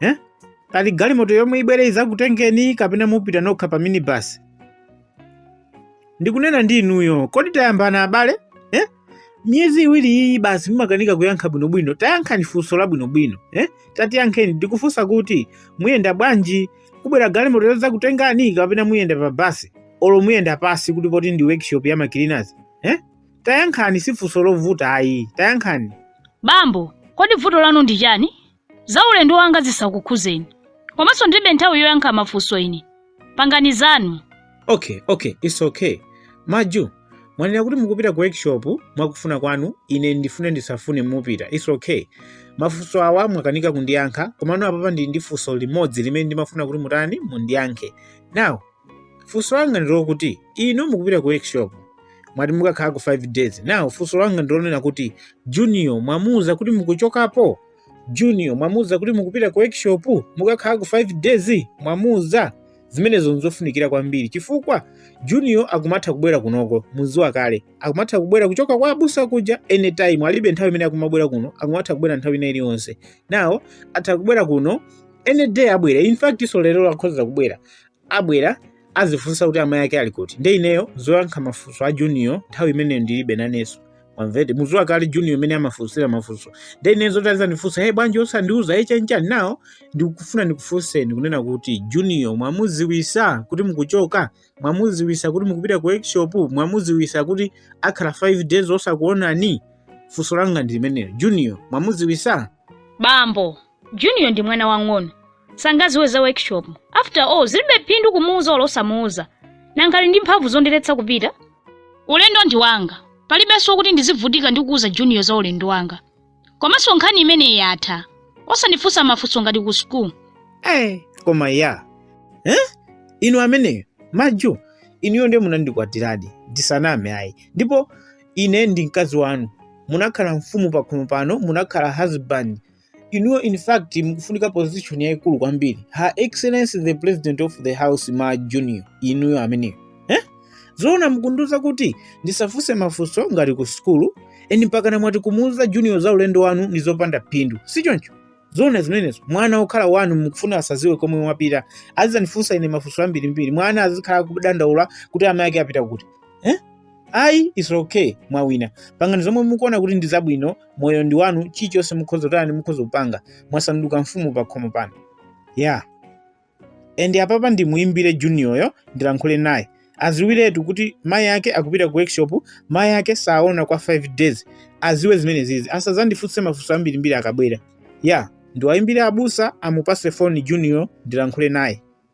eh? pali galimoto yomwe ibwere izakutengeni kapena mupita nokha pa minibus ndikunena ndi inuyo kodi tayambana abale eh? miyezi iwiri iyi basi mumakanika kuyankha bwinobwino tayankhani funso la bwinobwino eh? tatiyankheni ndikufunsa kuti muyenda bwanji kubwera galimoto yozakutengani kapena muyenda pa basi olo muyenda pasi kuti poti ndi workshop ya ma cleaners eh? tayankhani si funso lovuta ayi tayankhani bambo kodi vuto lanu ndi chani Za ulendo wanga zisakukhuzeni. Komanso ndilibe nthawi yoyankha mafunso ine. Pangani zanu. Okay, okay, it's okay. Maju, mwanena kuti mukupita ku workshop mwakufuna kwanu, ine ndifune ndisafune mupita. It's okay. Mafunso awa mwakanika kundiyankha, komano apapa ndili ndi funso limodzi limene ndimafuna kuti mutani mundiyankhe. Now, funso langa ndilokuti inu mukupita ku workshop mwati mukakhalako 5 days now funso langa ndilonena kuti junior mwamuuza kuti mukuchokapo junior mwamuuza kuti mukupita ku workshop mukakhalako 5 days mwamuuza zimenezo nzofunikira kwambiri chifukwa junior akumatha kubwera kunoko muziwa kale akumatha kubwera kuchoka kwa abusa kuja anytime alibe nthawi imene akumabwera kuno akumatha kubwera nthawi ina iliyonse now atha kubwera kuno any day abwera in fact so lero akhoza kubwera abwera azifunsa kuti amayi ake ali kuti nde ineyo zoyankha mafunso a junior nthawi imeneyo ndilibe nanenso mwamvete muziwa kale junior mmene amafunsira mafunso nde ineyo zoti azandifunsa hey bwanji osandiuza hey chanchani now ndikufuna ndikufunseni kunena kuti junior mwamuziwisa kuti mukuchoka mwamuziwisa kuti mukupita ku workshop mwamuziwisa kuti akhala 5 days osakuonani funso langa ndi limenelo junior mwamuziwisa bambo junior ndi mwana wang'ono sangaziwe za workshop after all zilibe phindu kumuuza olo osamuuza nanga ali ndi mphamvu zondiletsa kupita ulendo ndi wanga palibenso kuti ndizivutika ndi kuuza junior za ulendo wanga komanso nkhani imeneyi yatha osandifunsa mafunso ngati ku school eh koma ya eh inu ameneyo maju inuyo ndiye munandikwatiradi ndisaname ayi ndipo ine ndi mkazi wanu munakhala mfumu pakhomo pano munakhala husband inuyo in fact mukufunika position yayikulu kwambiri her excellency the president of the house ma junior inuyo ameneyo eh? zoona mukundiuza kuti ndisafunse mafunso ngati ku sukulu and mpakana mwati kumuuza junior za ulendo wanu ndi zopanda phindu si choncho zoona zimenezo mwana wokhala wanu mukufuna asaziwe komwe mwapita azizandifunsa ine mafunso ambirimbiri mwana azikhala kudandaula kuti amayi ake apita kuti eh? ayi it's okay mwawina pangani zomwe mukuona kuti ndi zabwino moyo ndi wanu chilichonse mukhoza kutani mukhoza kupanga mwasanduka mfumu pa khomo pano ya and apapa ndimuimbire junioryo ndilankhule naye aziwiretu kuti mayi ake akupita ku workshop mayi ake sawaona kwa 5 days aziwe zimene zizi asazandifunse mafunso ambirimbiri akabwera ya ndiwayimbire abusa amupase foni junior ndilankhule naye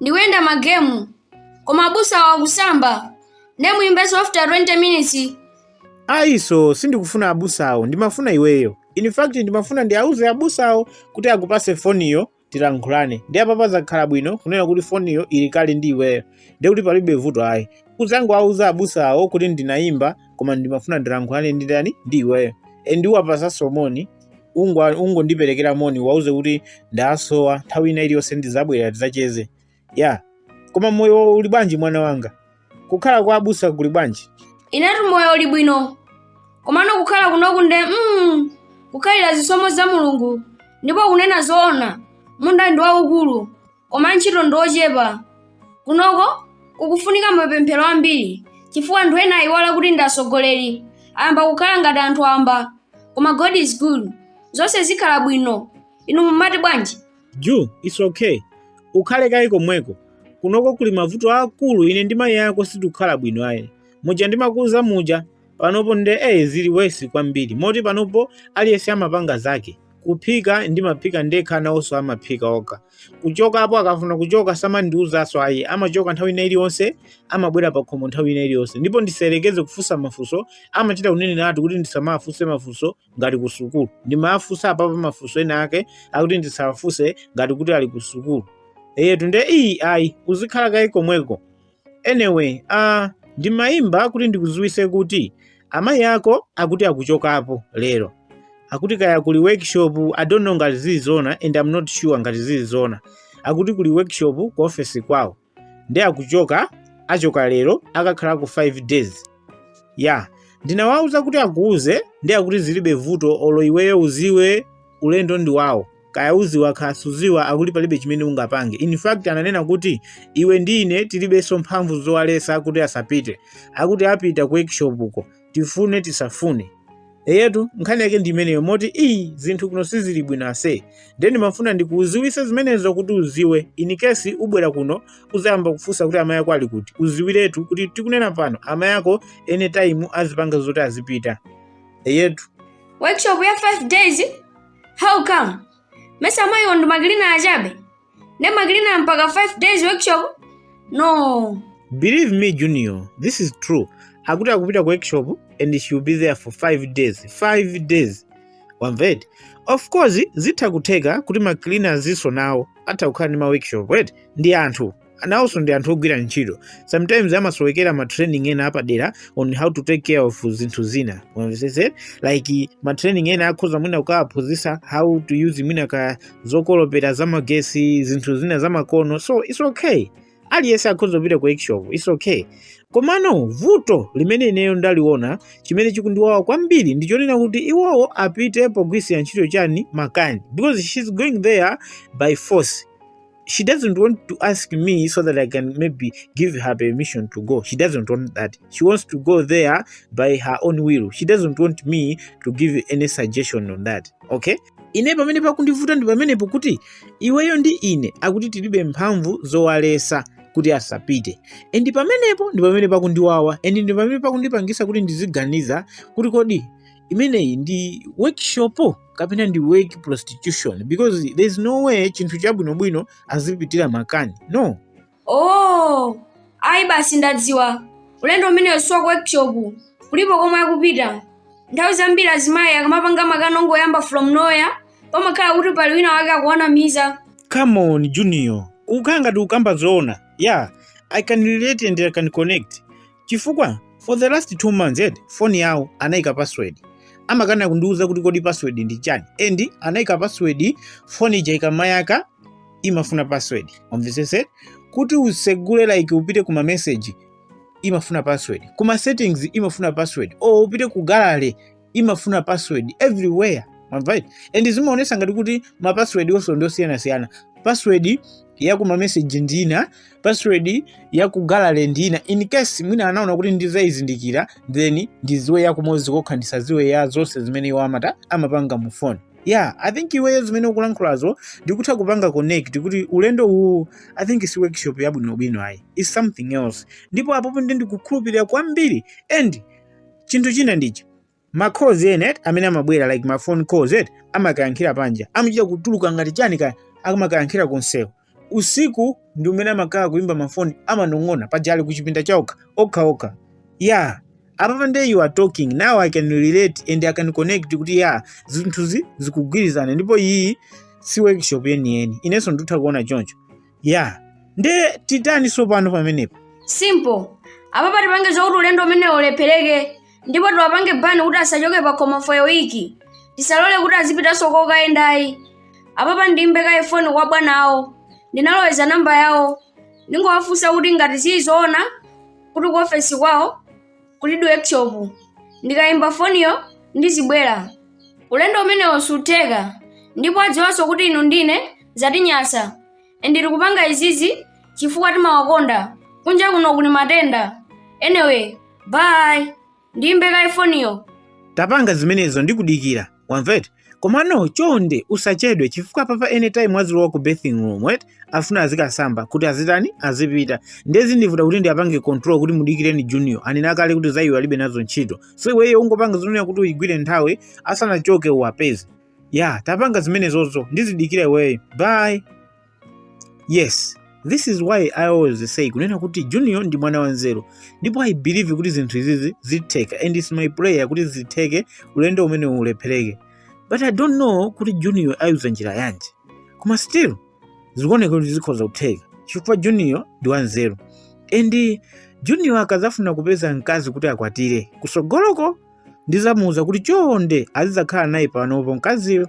ndikuyenda magemu koma abusawo akusamba nde muyimbenso after 20 minutes ayiso sindikufuna abusawo ndimafuna iweyo in fact ndimafuna ndiauze abusawo kuti akupase foniyo tilankhulane nde apapa zakhala bwino kunena kuti foniyo ili kale ndi iweyo ndiye kuti palibe vuto ayi udzangowauza abusawo kuti ndinayimba koma ndimafuna ndilankhulane ndi ndani ndi iweyo and uwapasenso moni ungo- ungondiperekera moni uwauze kuti ndawasowa nthawi ina iliyonse ndizabwera tizacheze ya koma moyo uli bwanji mwana wanga kukhala kwa abusa kuli bwanji inetu moyo uli bwino komano kukhala kunoku nde mm, kukhalira zisomo za mulungu ndipo kunena zoona munda ndi waukulu koma antchito ndi ochepa kunoko kukufunika mapemphero ambiri chifukwa anthu ena ayiwala kuti ndi atsogoleri ayamba kukhala ngati anthu wamba koma god is good zonse zikhala bwino inu mumati bwanji ju its okay ukhale kaye komweko kunoko kuli mavuto aakulu ine ndi mayi ako sitikukhala bwino ayi muja ndimakuuza muja panopo nde eh zili wesi kwambiri moti panopo aliyense amapanga zake kuphika ndimaphika ndekha nawonso amaphika okha kuchokapo akafuna kuchoka samandiuzanso ayi amachoka nthawi ina iliyonse amabwera pakhomo nthawi ina iliyonse ndipo ndisayerekeze kufunsa mafunso amachita kunenera ati kuti ndisamafunse mafunso ngati ku sukulu ndimafunsa apapa mafunso ena ake akuti ndisawafunse ngati kuti ali ku sukulu eyetu nde iyi ayi uzikhala kaye komweko Anyway, ah, ndimayimba kuti ndikuziwise kuti amayi ako akuti akuchokapo lero. Akuti kaya kuli workshop, I don't know ngati zili zoona and I'm not sure ngati zili zoona. Akuti kuli workshop ku office kwawo. Nde akuchoka, achoka lero, akakhalako 5 days. Yeah, ndinawauza kuti akuuze nde akuti zilibe vuto olo iweyo uziwe ulendo ndi wawo. Kaya uziwa kaya suziwa akuti palibe chimene ungapange. In fact ananena kuti iwe ndi ine tilibenso mphamvu zowalesa kuti asapite. Akuti apita ku workshop uko. Tifune tisafune. Eyetu nkhani yake ndi imeneyo moti iyi zinthu kuno sizili bwino ase. Ndiye ndimafuna ndikuziwise zimenezo kuti uziwe. In case ubwera kuno uzayamba kufunsa kuti amayi ako ali kuti. Uziwiretu kuti tikunena pano amayi ako anytime azipanga zoti azipita. Eyetu. Workshop ya 5 days How come? Mesa amayiwo ndi makilina achabe? Nde makilina mpaka 5 days workshop? No. Believe me Junior, this is true. Akuti akupita ku workshop and she will be there for 5 days. 5 days. Wamvedi? Of course, zitha kutheka kuti ma cleaners nso nawo atha kukhala ndi ma workshop, right? Ndi anthu. nawonso ndi anthu ogwira ntchito sometimes amasowekera ma training ena apadera on how to take care of zinthu zina Umvetsetse? like ma training ena akhoza mwina kukawaphunzitsa how to use mwina ka zokolopera zamagesi zinthu zina zamakono so it's okay aliyense akhoza kupita ku workshop it's okay komano vuto limene ineyo ndaliona chimene chikundiwawa kwambiri ndi chonena kuti iwowo apite pogwiritsira ntchito chani makani because she's going there by force she doesn't want to ask me so that I can maybe give her permission to go. She doesn't want that. She wants to go there by her own will. She doesn't want me to give any suggestion on that. Okay? ine pamene pakundivuta ndi pamenepo kuti iweyo ndi ine akuti tilibe mphamvu zowalesa kuti asapite and pamenepo ndi pamene pakundiwawa and ndi pamene pakundipangisa kuti ndiziganiza kuti kodi imeneyi ndi workshop kapena ndi work prostitution because there is no way chinthu chabwinobwino azipitira makani no oh ayi basi ndadziwa ulendo umeneyo si wa ku workshop kulipo komwe akupita nthawi zambiri azimayi akamapanga makani ongoyamba from nowhere pamakhala kuti pali wina wake akuwanamiza come on junior ukukhala ngati ukamba zoona yeah i can relate and i can connect chifukwa for the last two months eti foni yawo anayika password amakana kundiuza kuti kodi password ndi chani and anayika password foni ija ikamayaka imafuna password umvesese kuti usegule like upite kuma message imafuna password kuma settings imafuna password o upite ku gallery imafuna password everywhere mwamva eti and zimaonesa ngati kuti ma password onse ndi osiyanasiyana password ya ku mameseji ndi ina password ya ku gallery ndi ina in case mwina anaona kuti ndizayizindikira then ndiziwe ya kumodzi kokha ndisaziwe ya zonse zimene iwo amata amapanga mu phone yeah i think iweyo zimene ukulankhulazo ndikutha kupanga connect kuti ulendo uwu i think si workshop yabwinobwino ayi is something else ndipo apopo ndi ndikukhulupirira kwambiri and chinthu china ndichi ma calls ena eti amene amabwera like ma phone calls eti amakayankhira panja amachita kutuluka ngati chani kaya amakayankhira kumsewu usiku ndi umene amakhala kuimba mafoni amanong'ona paja ali kuchipinda chaokha okhaokha ya apapa nde you are talking now i can relate and i can connect kuti ya zinthuzi zikugwirizana ndipo iyi si workshop yeniyeni inenso nditha kuona choncho ya nde titani tsopano pamenepo simple apapa tipange zokuti ulendo umenewo ulephereke ndipo tiwapange bani kuti asachoke pa khomo for a week tisalole kuti azipitanso kokayendayi apapa ndimbe kaye foni kwa bwana awo ndinaloweza namba yawo ndingowafunsa kuti ngati ndi zoona kuti ku ofesi kwawo kulidi workshop ndikayimba foniyo ndizibwera ulendo umenewo sutheka ndipo adziwanso kuti inu ndine zatinyasa and tikupanga izizi chifukwa timawakonda kunja kuno kuli matenda anyway bye ndiyimbe kaye foniyo tapangani zimenezo ndikudikira wamva eti komano chonde usachedwe chifukwa apapa anytime azilowa ku bathing room afuna azikasamba kuti azitani azipita nde zindivuta kuti ndiapange control kuti mudikireni junior anena kale kuti za iwe alibe nazo ntchito so iweyo ungopanga zonena kuti uyigwire nthawi asanachoke uwapeze ya tapanga zimenezozo ndizidikira iweyo bye yes this is why i always say kunena kuti junior ndi mwana wanzeru ndipo i believe kuti zinthu izizi zitheka and its my prayer kuti zitheke ulendo umenewu ulephereke but i don't know kuti junior ayuza njira yanji koma still zikuoneka kuti zikhoza kutheka chifukwa junior ndi wanzeru and junior akazafuna kupeza mkazi kuti akwatire kusogoloko ndizamuuza kuti chonde azidzakhala naye panopo mkaziyo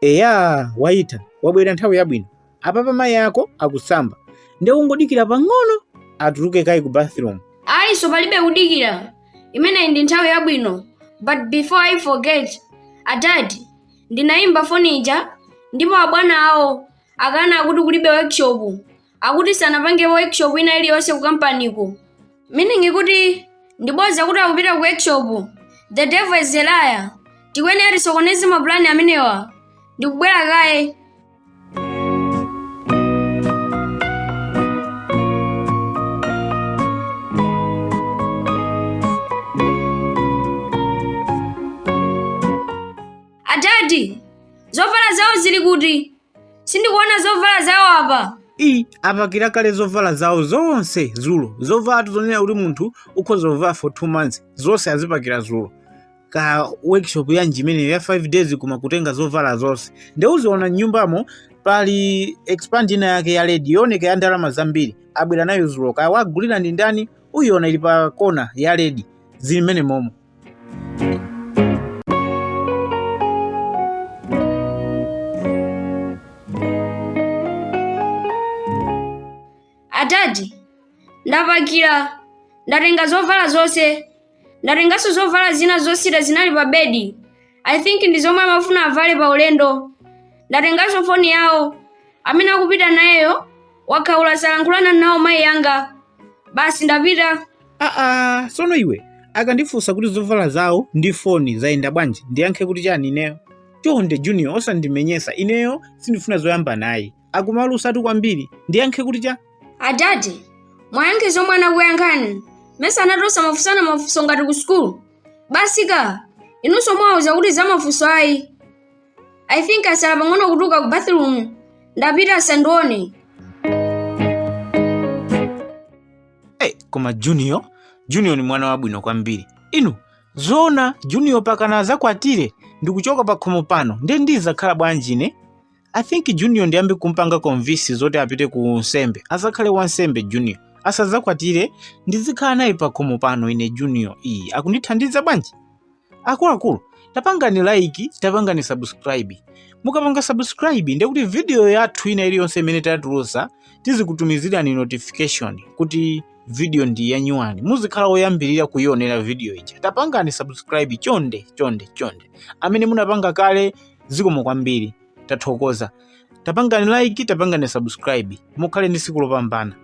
Eya, waitha, wabwera nthawi yabwino. Apapa mayi ako akusamba. Nde ungodikira pang'ono atuluke kaye ku bathroom. Ayinso palibe kudikira. Imeneyi ndi nthawi yabwino. But before I forget, adadi, ndinayimba foni ija ndipo abwana awo akana akuti kulibe workshop. akuti sanapange workshop ina iliyonse ku kampaniko meaning kuti ndi boza kuti akupita ku workshop the devil is a liar tikuyenera tisokoneze mapulani amenewa ndikubwera kaye adadi zovala zawo zili kuti sindikuona zovala zawo apa ii apakira kale zovala zawo zonse zulo zovala tizonena kuti munthu ukhoza kuvala for two months zonse azipakira zulo kaya workshop yanji imeneyo ya 5 days koma kutenga zovala zonse nde uziona mnyumbamo pali expand ina yake ya ledi yooneka ya ndalama zambiri abwera nayo zulo kaya awagulira ndi ndani uyiona ili pa kona ya ledi zili mmenemomo adadi ndapakira ndatenga zovala zonse ndatenganso zovala zina zosita zinali pa bedi i think ndi zomwe amafuna avale pa ulendo ndatenganso foni yawo amene akupita nayeyo wakhaula salankhulana nawo mayi yanga basi ndapita aa sono iwe akandifunsa kuti zovala zawo ndi foni zayenda bwanji ndiyankhe kuti chani ineyo chonde junior osandimenyesa ineyo sindifuna zoyamba naye akumalusatu kwambiri ndiyankhe kuti cha adadi muwayankhe zomwe anakuyankhani mesa anati osamafunsana mafunso ngati ku sukulu basi ka inunso muwauza kuti za mafunso ayi i think asala pang'ono kutuluka ku bathroom ndapita asandione hey, koma junior junior ni mwana wabwino kwambiri inu zoona junior pakana azakwatire ndikuchoka pakhomo pano ndiye ndizakhala bwanji ine i think junior ndiyambe kumpanga convince zoti apite ku nsembe azakhale wansembe junior asazakwatire ndizikhala naye pakhomo pano ine junior iyi akundithandiza bwanji akuluakulu tapangani like tapangani subscribe mukapanga subscribe ndiye kuti video yathu ina iliyonse imene tatulusa tizikutumizirani notification kuti video ndi yanyuwani muzikhala oyambirira kuyionera video ija tapangani subscribe chonde chonde chonde amene munapanga kale zikomo kwambiri tathokoza tapangani like tapangani subscribe mukhale ndi siku lopambana